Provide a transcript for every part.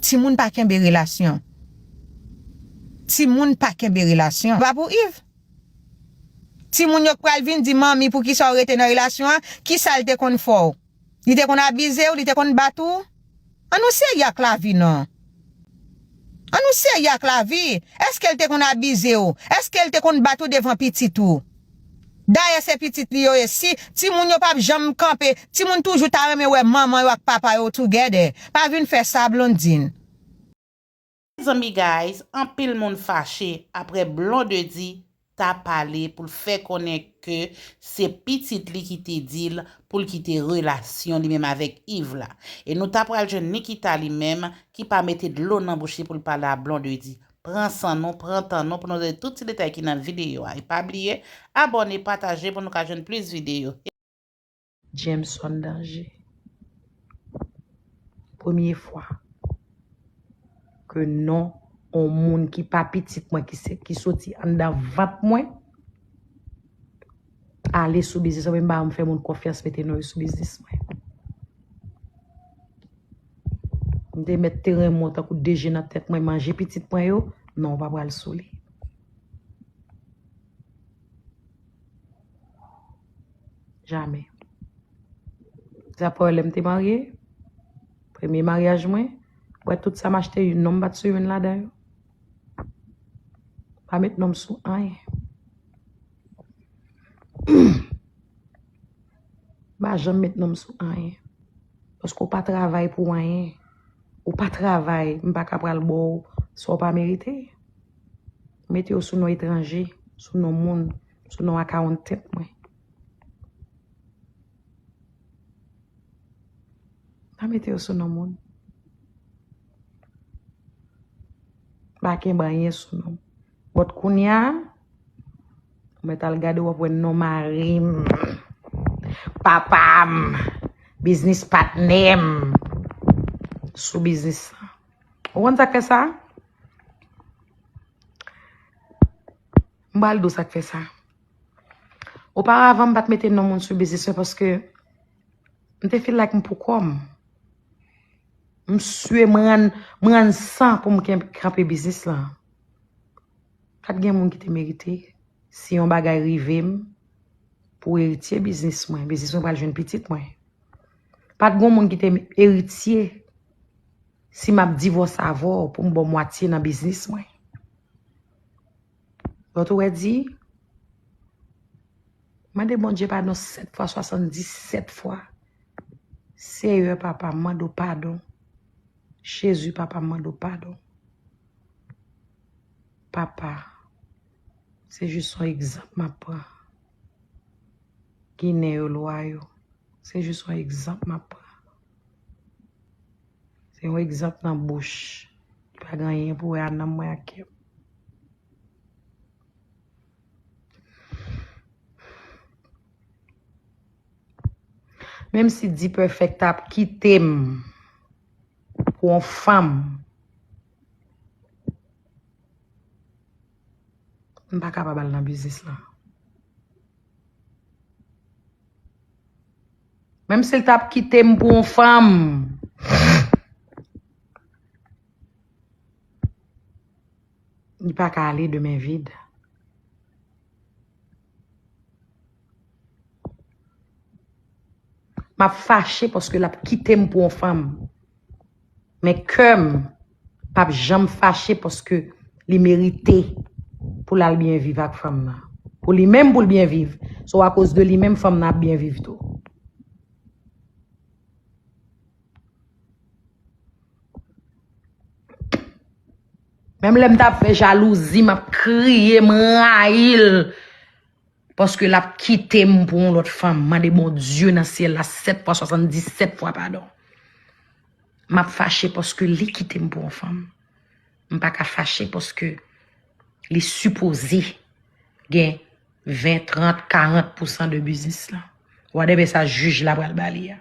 Timoun pa kenbe relasyon. Timoun pa kenbe relasyon. Sa pa pou Yves. Timoun yo k pral vin di manmi poukisa w rete nan relasyon an, kisa l te konn fè w? Li te konn abize w, li te konn bat ou? An nou serye ak lavi non. An nou serye ak lavi. Eske l te konn abize w? Eske l te konn bat ou devan pitit ou? Dayè se pitit li yo ye si timoun yo pap janm kanpe timoun toujou ta renmen wè manman yo ak papa yo together pa vin fè sa Blondine. Mezanmi guys anpil moun fache aprè Blondedy ta pale poul fè konnen ke se pitit li ki te dil poul kite relasyon li menm avèk Yves la e nou ta pral jwenn Nikita li menm ki pa mete dlo nan bouch li poul pale a Blondedy Pran san nou, pran tan nou pou nou tande tout ti detay ki nan videyo a. E pa bliye, abòne, pataje pou nou ka jwenn plis videyo. Jameson Danger Premye fwa ke non on moun ki pa pitit mwen ki soti anndan vant mwen. Ale sou biznis mwen, ba mwen fè moun konfyans mete non yo sou biznis mwen. Mwen te met teren mwen tankou deje nan tèt mwen manje pitit mwen yo, non wap wale sou li. Jamè. Zapoyè lèm te marye, premye maryaj mwen, wè tout sa machte yon non bat sou yon ladan yo. Pa met non sou anye. M pa janm met non m sou anyen. Paske ou pa travay pou anyen. Ou pa travay, m pa ka pral ba w sa w pa merite. Ou mete yo sou non etranje, sou non moun, sou non akawontant mwen. Pa mete yo sou non moun. Pa kenbe anyen sou non. Bòt kounya, Mwen tal gade wap wè non marim, papam, biznis patnèm, sou biznis sa. Ou konn sak fè sa? Mbal do sak fè sa. O pa avan mbat mete non moun sou biznis mwen paske mte feel like mpou kòm. Msye mran san pou mken kanpe biznis la. Pat gen moun ki te merite, si yon bagay rive m pou eritye biznis mwen, biznis mwen pral jwenn pitit mwen. Pat gen moun ki te eritye, si map divòse avè w pou m ba w mwatye nan biznis mwen. Lòt ou wè di, mande Bondye padon 7 fwa 77 fwa, Seyè papa m mande w padon, Jezi papa m mande w padon. Papa, se jis yon egzanp m ap pran. Ginen yo lwa yo. Se jis yon egzanp m ap pran. Se yon egzanp nan bouch. Li pa gen anyen pou wè ak nanm mwen ak kè m. Menm si D-Perfect ta ap kite m. pou yon fanm m pa kapab al nan biznis lan menm si l t ap kite m pou yon fanm li pa ka ale de men vid Map fache paske lap kitem pou yon fanm. Men keurm pap janm fache paske li merite pou lal byen viv ak fanm nan. Pou li menm poul byen viv. So a koz de li menm fanm nan ap byen viv tou. Menm lèm tap fè jalouzi map kriye m rayil paske lap kitem pou yon lòt fanm mande Bondye nan syèl la 7 fwa 77 fwa padon map fache paske li kitem pou yon fanm m paka fache paske li sipoze gen 20 30 40 pousan de biznis lan whatever sa jij la pral bali a.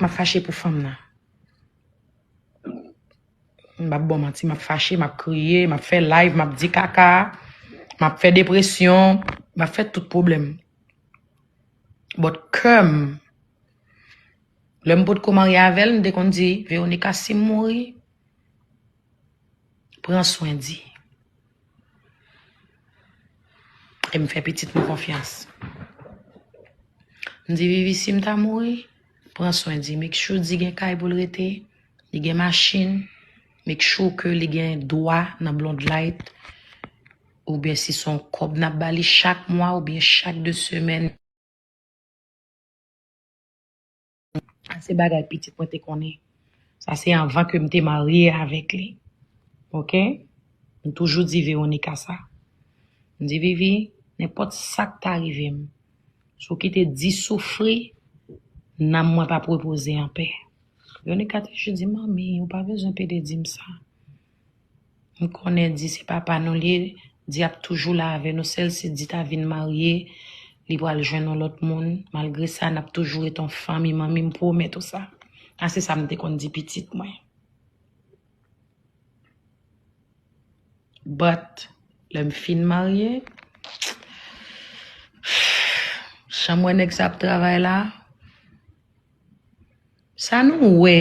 Map fache pou fanm nan. M pap bon manti, map fache, map kriye, map fè live, map di kaka, map fè depresyon, map fè tout pwoblèm. But kèm, lèm potko marye avèl, m te konn di, Veronica, sim mouri, Pran swen di. E m fè pitit m konfyans. M di vivi si m ta mouri, pran swen di. Make sure di gen kay pou l rete, li gen machin, make sure ke li gen dwa nan blondlight oubyen si son kòb n ap ba li chak mwa oubyen chak de semèn. Sa se bagay pitit mwen te konnen. Sa se anvan ke m te marye avèk li. Ok? M toujou di Veronica sa. M di Vivi, nenpòt sa k ta rive m, si w kite di soufri, nanm mwen p ap repoze anpè. Veronica toujou di m, Manmi, ou pa bezwen pede di m sa. M konnen di se papa nou li ye, di ap toujou la avè nou sèl si di ta vin marye li pral jwenn yon lòt moun, malgre sa nap toujou ret an fanmi manmi m pwomèt ou sa, a se sa m te konn di pitit mwen. But lè m fin marye jan m wè nèg sa ap travay la sa nou wè.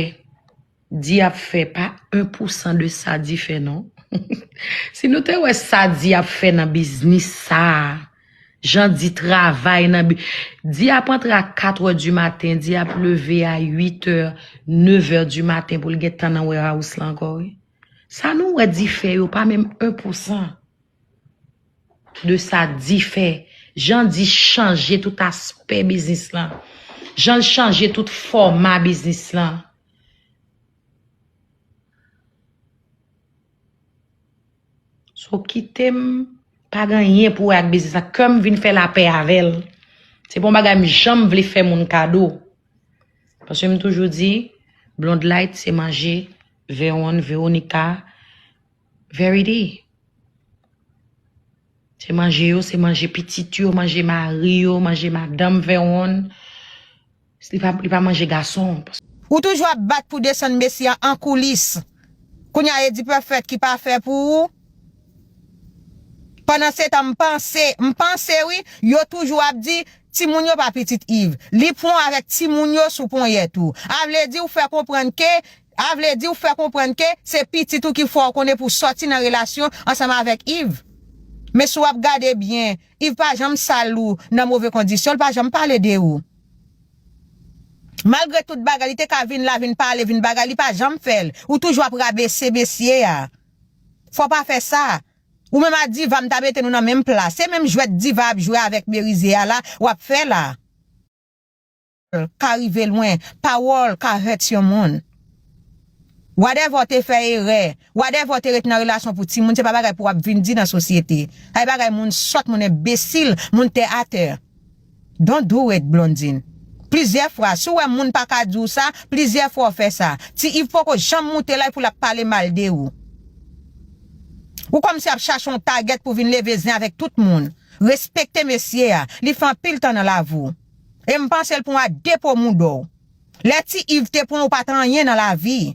Di ap fè pa 1 pou 100 de sa di fè non. Si nou te wè sa di ap fè nan biznis sa a, jan di travay nan bi, di ap antre a 4 è di maten, di ap leve a 8 è, 9 è di maten pou l gen tan nan warehouse la ankò wi. Sa nou wè di fè yo pa menm 1 pou 100 de sa di fè. Jan di chanje tout aspè biznis lan, jan l chanje tout fòma biznis lan. So kitem pa gen anyen pou wè ak biznis la kem vin fè lapè avèl. Se pa yon bagay m janm vle fè moun kado. Paske m toujou di Blondlight se manje Veronne, Veronica, Verity. Se manje yo, se manje pitit yo, manje mari yo, manje madanm Veronne. Li pa manje gason. Ou toujou ap bat pou desann mesye an an koulis kounye a e di perfect ki pa fè pou ou pandan se tan m panse m panse wi yo toujou ap di timoun yo pa pitit Yves li pwan avèk timoun yo sou ponyèt ou a vle di ou fè konprann ke a vle di ou fè konprann ke se pitit ou ki fè w konnen pou sòti nan relasyon ansanm avèk Yves men si w ap gade byen Yves pa janm sal ou nan move kondisyon l pa janm pale de ou. Malgre tout bagay li te ka vin la vin pale vin bagay li pa janm fèl ou toujou ap rabese mesye a fò pa fè sa ou menm a diva m ta mete nou nan menm pla se menm jwèt diva ap jwe avèk merize a la wap fè la. Pawòl ka rive lwen, pawòl ka hurts yon moun whatever w te fè erè whatever w te ret nan relasyon pou timoun se pa bagay pou wap vin di nan sosyete sa se bagay moun sòt moun enbesil moun tè atè. Don't do it Blondine Plizyè fwa si w wè moun pa ka di w sa Plizyè fwa w fè sa Ti Iv poko janm moute la epi w la pale mal de ou Ou kòmnse ap chache yon tagèt pou vin leve zen avèk tout moun Respekte mesye a Li fè anpil tan nan lavi w E m panse l pran w a 2 po moudon w. Lè ti iv te pran ou pat anyen nan lavi.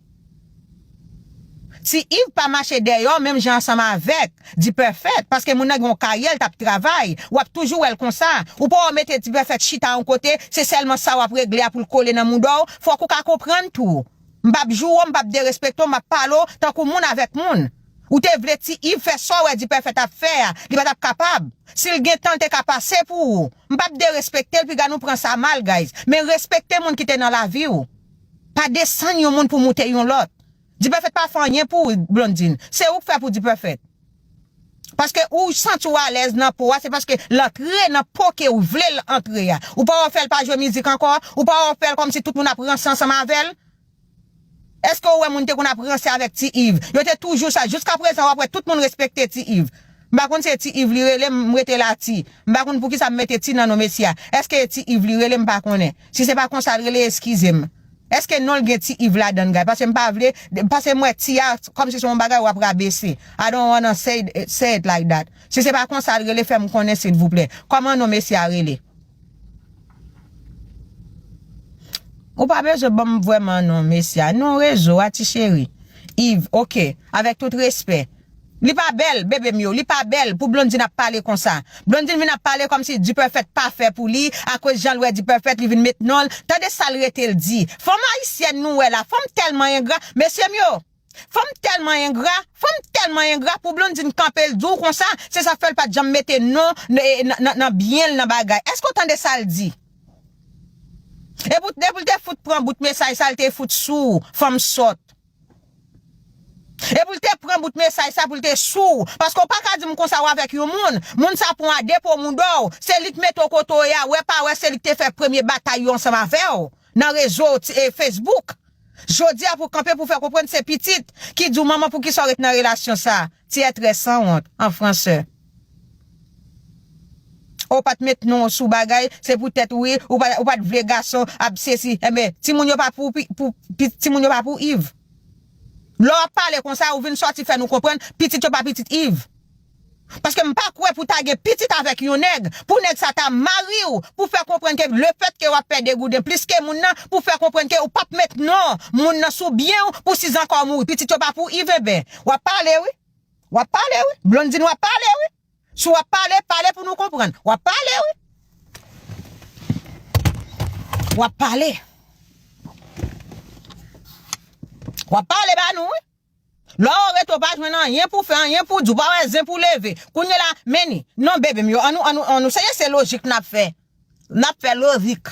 Ti iv pa mache deyò menm jan ansanm avèk dipèfèt paske moun nan gen yon karyè l tap travay wap toujou wèl konsa ou poko mete dipèfèt chita yon kote se sèlman sa wap regle a poul kole nan mouda w fòk ou ka konprann tou m pap joure w m pap derespekte w map pale w tankou moun avèk moun ou te vle ti iv fè sa w wè dipèfèt ap fè a li patap kapab sil gentan l te ka pase pou ou M pap derespektel piga nou pran sa mal guys men respekte moun ki te nan laviw pa desann yon moun pou moute yon lòt Dperfect pa fè anyen pou Blondine se ou k fè pou Dperfect paske ou santi w alèz nan po a se paske l antre nan po kew vlel antre a ou pa wè w fèl pa jwe mizik ankò ou pa wè w fèl kòmsi tout moun ap ranse ansanm avèl. Eske ou wè moun te konn ap ranse avèk ti Iv? Yo te toujou sa, jiska prezan wap wè tout moun respekte ti Iv. M pa konn si e ti Iv li rele m, m rete la ti. M pa konn poukisa m mete ti nan non mesye a. Eske e ti Iv li rele m pa konnen. Si se pa konsa l rele eskize m. Eske non l gen ti Iv ladann guy? Paske m pa vle, paske m wè ti a kòmsi se yon bagay wap rabese. I don't wanna say it like that. Si se pa konsa l rele fè m konnen silvouplè. Kòman non mesye a rele? Ou pa bezwen banm vreman non mesye a non rezo a ti cheri Yves ok avek tout respè Li pa bel bebe m yo li pa bel pou Blondine ap pale konsa Blondine vin ap pale komsi Dperfect pa fè pou li akoz jan l wè Dperfect li vin met non l tande sa l rete l di fanm ayisyèn nou wè la fanm telman engra mesye m yo Fanm telman engra, fanm telman engra pou Blondine kanpel diw konsa, se sa fèl pat janm mete non nan byenl nan bagay. Eske ou tande sal di? Epi depoul te fout pran bout mesaj sa li te fout sou fanm sòt. Epoul te pran bout mesaj sa poul te sou, paske ou paka dim konsa ou avèk yon moun, moun sa pran w a 2 po moudòw, se li k mete w kote w ye a, wè pa wè se li k te fè premye batay yo ansanm avèw. Nan rezo Facebook. Jodi a pou kanpe pou fè konprann se pitit ki di w manman poukisa w ret nan relasyon sa. Ti ètrè sanwont, an fransè. O pat met non w sou bagay, se pou tèt wi, ou pa ou pat vle gason ap sesi. Enben, timoun yo pa pou timoun yo pa pou Iv. Lè w ap pale konsa ou vin sòti fè nou konprann pitit yo pa pitit Iv. Paske m pa kwè pou ta gen pitit avèk yon nèg, pou nèg sa ta mari w, pou fè konprann ke le fèt ke w ap pè degouden plis ke moun nan, pou fè konprann ke w pap met non moun nan sou byen w, pou si zanka w mouri pitit yo pa pou iv enben w ap pale wi, w ap pale wi Blondine w ap pale wi, si w ap pale, pale pou nou konprann, w ap pale wi, w ap pale, w ap pale ba nou wi. Lè ou rete ou pa jwenn anyen pou fè anyen pou di ou pa wè zen pou leve kounye la men ni non bebe m yo an nou an nou an nou seye se lojik nap fè nap fè lorik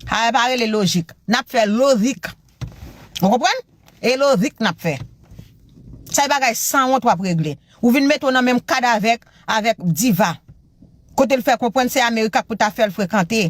sa yo pa rele lojik nap fè lorik ou konprann e lorik nap fè se bagay sanwont wap regle ou vin mete ou nan menm kad avèk avèk diva kote l fè konprann se america pou ta fèl frekante.